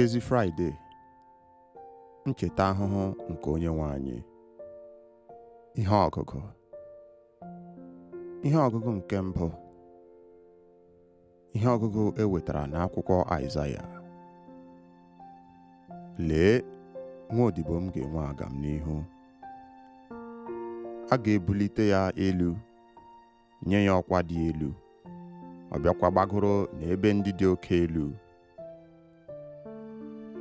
ezi fraịde ncheta ahụhụ nke onye nwe anyị ihe ọgụgụ ihe ọgụgụ nke mbụ ihe ọgụgụ e wetara n'akwụkwọ Aịzaya lee nwa odibo m ga-enwe agamnihu a ga-ebulite ya elu nye ya ọkwa dị elu ọ bịakwa gbagoro n'ebe ndị dị oke elu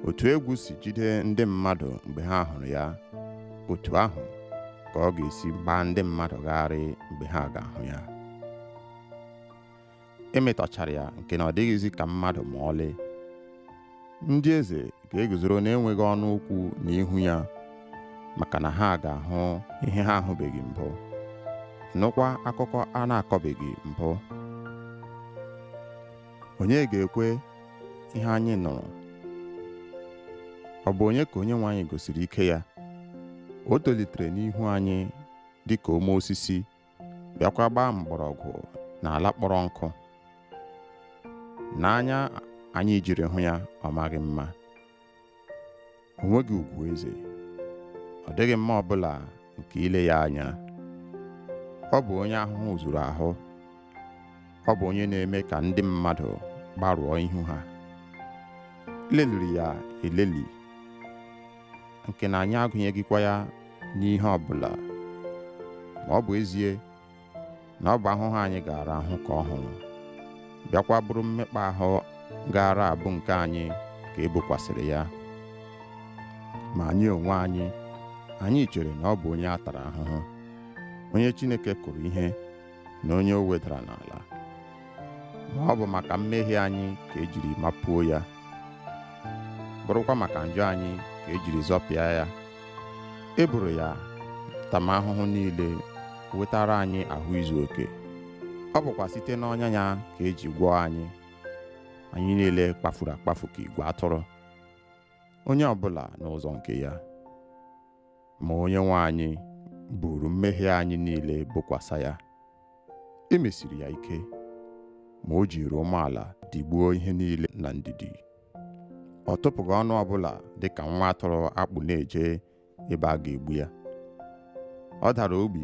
otu egwu si jide ndị mmadụ mgbe ha hụrụ ya otu ahụ ka ọ ga-esi gbaa ndị mmadụ gharị mgbe ha ga-ahụ ya e metọchara ya nke na ọ dịghịzi ka mmadụ ma ọlị ndị eze ga-eguzoro na-enweghị ọnụ okwu n'ihu ya maka na ha ga-ahụ ihe ha ahụbeghị mbụ nụkwa akụkọ a na-akọbeghị mbụ onye ga-ekwe ihe anyị nụrụ ọ bụ onye ka onye nwe anyị gosiri ike ya o tolitere n'ihu anyị dị ka ome osisi bịakwa gbaa mgbọrọgwụ n'ala kpọrọ nkụ n'anya anyị jiri hụ ya ọ maghị mma o nweghị ugwu eze ọ dịghị mma ọbụla nke ile ya anya ọ bụ onye ahụhụ zuru ahụ ọ bụ onye na-eme ka ndị mmadụ gbarụọ ihu ha e leliri ya eleli nke na anyị agụnyeghịkwa ya n'ihe ọ bụla ma ọ bụ ezie na ọ bụ ahụhụ anyị gaara ahụ ka ọ hụrụ bịakwa bụrụ mmekpa ahụ gaara abụ nke anyị ka e bokwasịrị ya ma anyị onwe anyị anyị chere na ọ bụ onye a tara ahụhụ onye Chineke kụrụ ihe na onye o wedara n'ala ma ọ bụ maka mmehie anyị ka e jiri mapuo ya bụrụkwa maka njọ anyị ka e jiri zọpịa ya e boro ya ntamahụhụ niile wetara anyị ahụ izu oke ọ bụkwa site n'ọnya ya ka e ji gwọọ anyị anyị niile kpafuru akpafu ka igwe atụrụ onye ọbụla n'ụzọ nke ya ma onye nwe anyị buru mmehie anyị niile bokwasa ya e mesiri ya ike ma o jiri umeala digbuo ihe niile na ndidi ọ tụpụghị ọnụ ọbụla dị ka nwa atụrụ a kpụ na-eje ebe a ga-egbu ya ọ dara ogbi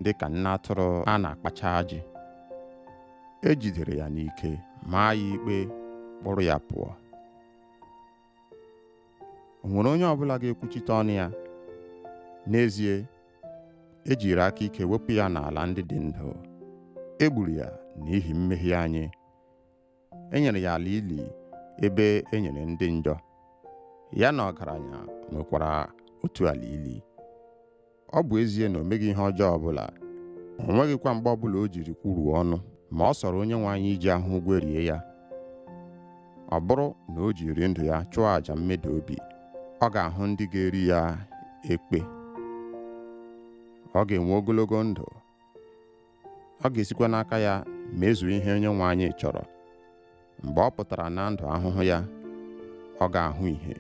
dị ka nne atụrụ a na-akpacha ajị e jidere ya n'ike maa ya ikpe kpụrụ ya pụọ o nwere onye ọbụla ga-ekwuchite ọnụ ya n'ezie ejiri aka ike wepụ ya n'ala ndị dị ndụ e gburu ya n'ihi mmehie anyị e nyere ya ala ili ebe e nyere ndị njọ ya na ọgaranya nwekwara otu ala ili ọ bụ ezie na o meghị ihe ọjọọ ọbụla o nweghịkwa mgbe ọbụla o jiri kwuruo ọnụ ma ọ sọrọ onye nwe anyị iji ahụhụ gwerie ya ọ bụrụ na o jiri ndụ ya chụọ àjà mmeda obi ọ ga-ahụ ndị ga-eri ya ekpe ọ ga-enwe ogologo ndụ ọ ga-esikwa n'aka ya mezuo ihe onye nwe anyị chọrọ mgbe ọ pụtara na ndụ ahụhụ ya ọ ga-ahụ ihe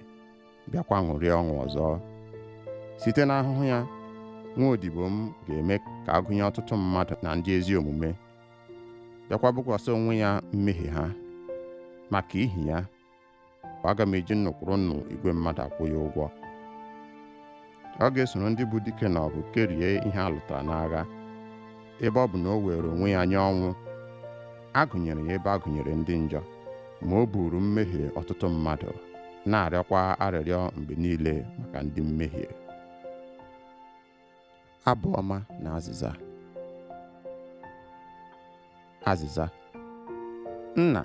bịakwa ṅụrịa ọṅụ ọzọ site n'ahụhụ ya nwa odibo m ga-eme ka a gụnye ọtụtụ mmadụ na ndị ezi omume bịakwa bukwasị onwe ya mmehie ha maka ihi ya aga m eji nnụ kwuru nnụ igwe mmadụ akwụ ya ụgwọ ọ ga-esoro ndị bụ dike na ọgụ kerie ihe a lụtara n'agha ebe ọ bụ na o weere onwe ya nye ọnwụ a gụnyere ya ebe a gụnyere ndị njọ ma o buru mmehie ọtụtụ mmadụ na-arịọkwa arịrịọ mgbe niile maka ndị mmehie abụ ọma na azịza azịza nna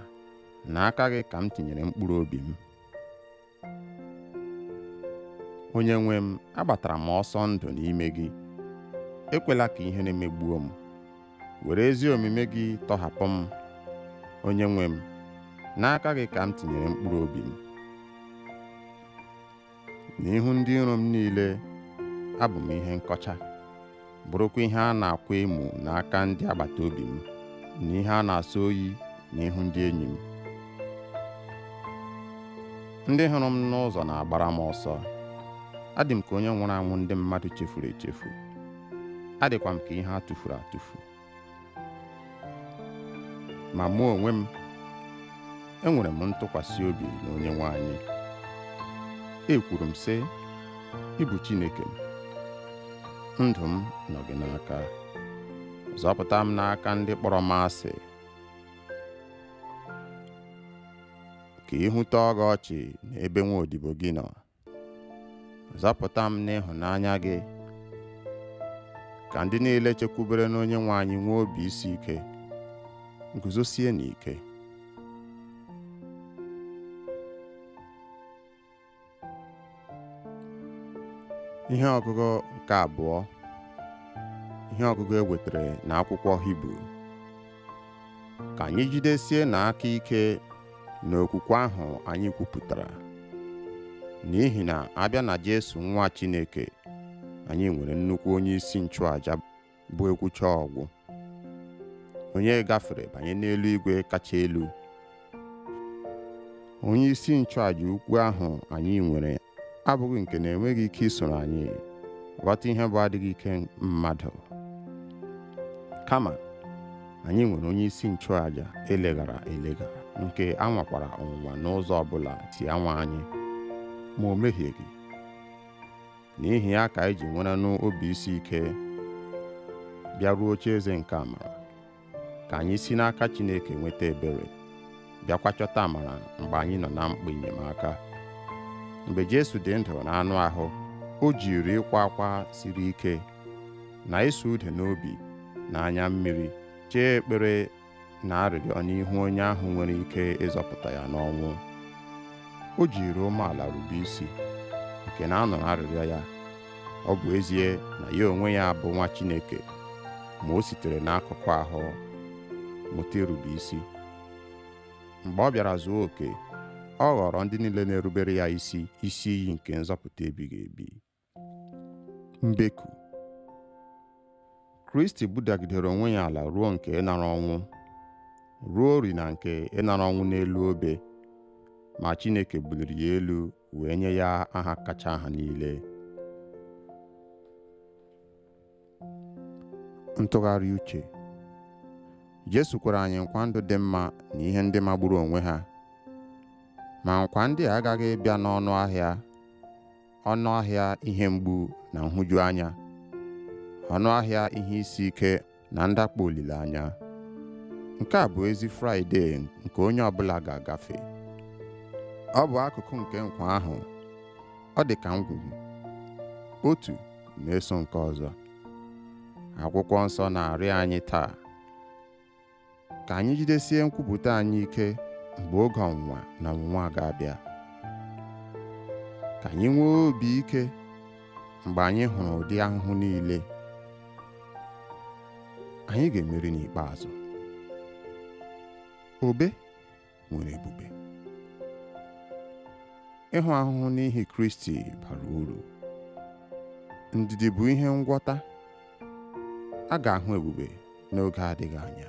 na aka gị ka m tinyere mkpụrụ obi m onye nwe m agbatara m ọsọ ndụ n'ime gị ekwela ka ihere megbuo m were ezi omume gị tọhapụ m onye nwe m n'aka gị ka m tinyere mkpụrụ obi m n'ihu ndị iro m niile abụ m ihe nkọcha bụrụkwa ihe a na-akwa emu n'aka ndị agbata obi m na ihe a na-asọ oyi n'ihu ndị enyi m ndị hụrụ m n'ụzọ na-agbara m ọsọ adị m ka onye nwụrụ anwụ ndị mmadụ chefuru echefu adịkwa m ka ihe a tụfuru atụfu ma mụ onwe m enwere m ntụkwasị obi na onye nwe anyị ekwuru m sị ị bụ Chineke m ndụ m nọ gị n'aka zọpụta m n'aka ndị kpọrọ m asị ka ihu tọọ gị ọchị n'ebe nwa odibo gị nọ Zọpụta m n'ịhụnanya gị. Ka ndị niile chekwubere n'onye nwe anyị nwee obi isi ike, guzosie n'ike. Ihe ọgụgụ nke abụọ ihe ọgụgụ e wetara na akwụkwọ Hibru ka anyị jidesie na aka ike n'okwukwe ahụ anyị kwupụtara n'ihi na a bịa na Jesu nwa Chineke anyị nwere nnukwu onye isi nchụaja bụ e kwucha ọ gwụ onye gafere banye n'eluigwe kacha elu onye isi nchụàja ukwu ahụ anyị nwere abụghị nke na-enweghị ike isoro anyị ghọta ihe bụ adịghị ike mmadụ kama anyị nwere onye isi nchụàja eleghara elega nke a nwakwara ọnwụnwa n'ụzọ ọbụla e si anwa anyị ma o mehieghị n'ihi ya ka anyị ji werenụ obi isi ike bịaruo oche eze nke amara ka anyị si n'aka Chineke nweta ebere bịakwa chọta amara mgbe anyị nọ na mkpa enyemaka mgbe Jesu dị ndụ na anụ ahụ o jiri ịkwa akwa siri ike na ịsụ ude n'obi na anya mmiri chee ekpere na arịrịọ n'ihu onye ahụ nwere ike ịzọpụta ya n'ọnwụ o jiri umeala rube isi nke na a nụrụ arịrịọ ya ọ bụ ezie na ya onwe ya bụ nwa Chineke ma o sitere n'ahụhụ ahụ mụta irube isi mgbe ọ bịara zuo oke ọ ghọọrọ ndị niile na-erubere ya isi isi iyi nke nzọpụta ebighị ebi mbeku Kristi budagidere onwe ya ala ruo nke ịnara ọnwụ ruorị na nke ịnara ọnwụ n'elu obe ma Chineke buliri ya elu wee nye ya aha kacha aha niile ntụgharị uche Jesu kwere anyị nkwa ndụ dị mma na ihe ndị magburu onwe ha ma nkwa ndị a aghaghị ịbịa n'ọnụ ahịa ọnụ ahịa ihe mgbu na nhụjuanya ọnụ ahịa ihe isi ike na ndakpọ olileanya. Nke a bụ ezi Fraịdee nke onye ọbụla ga-agafe. Ọ bụ akụkụ nke nkwa ahụ. Ọ dị ka ngwugwu. Otu na-eso nke ọzọ. Akwụkwọ nsọ na-arịọ anyị taa ka anyị jidesie nkwupụta anyị ike mgbe oge ọnwụnwa na ọnwụnwa ga-abịa ka anyị nwee obi ike mgbe anyị hụrụ ụdị ahụhụ niile anyị ga-emeri n'ikpeazụ obe nwere ebube ịhụ ahụhụ n'ihi Kristi bara uru ndidi bụ ihe ngwọta a ga-ahụ ebube n'oge adịghị anya